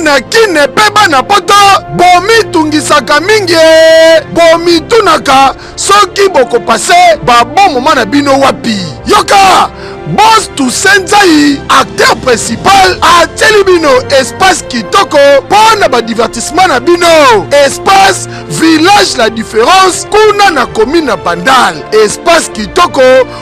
na kine mpe bana poto bomitungisaka mingi bomitunaka soki bokopase babomoma na bino wapi yoka bos toussaint zai acteur principal atyeli bino espace kitoko mpo na badivertissement na bino espace village la différence kuna na commune na bandal espace kitoko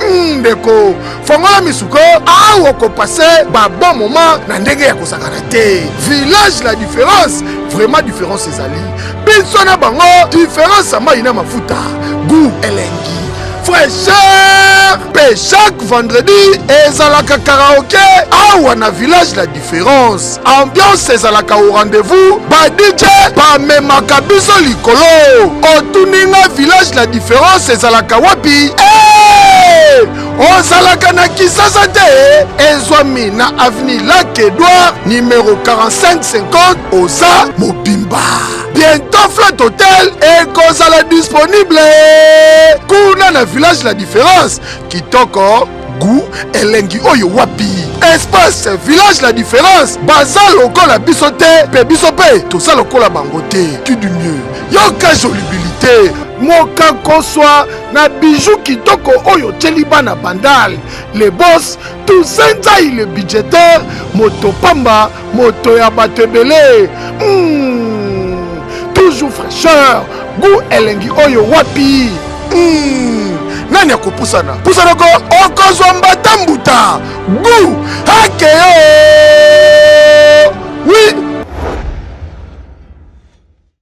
Hmm, ndeko fongola misuko awa okopase babon moment na ndenge ya kosakana te village la différence vraiment différence ezali biso na bango différence ya mai na mafuta goût elengi fraîcheur mpe chaque vendredi ezalaka karaoke awa na village la ference ambiance ezalaka au rendez-vous ba dj bamemaka biso likolo otuni nga village la différence ezalaka wapi hey! ozalaka na kisasa te ezwami na avenue lac edouard numero 4550 oza mobimba bientôt flat hotel ekozala disponible kuna na village la différence kitoko gu elengi oyo wapi espace village la différence baza lokola biso te mpe biso mpe toza lokola bango te tu du mieux yoka jolibilité moka koswa na biju kitoko oyo otyeli bana bandal le bos tusenza il budgetaire moto pamba moto ya bato ebele mm. toujours fraîcheur goût elengi oyo wapi mm. nani akopusana pusana ko okozwa mbata mbuta goût hakeyo oui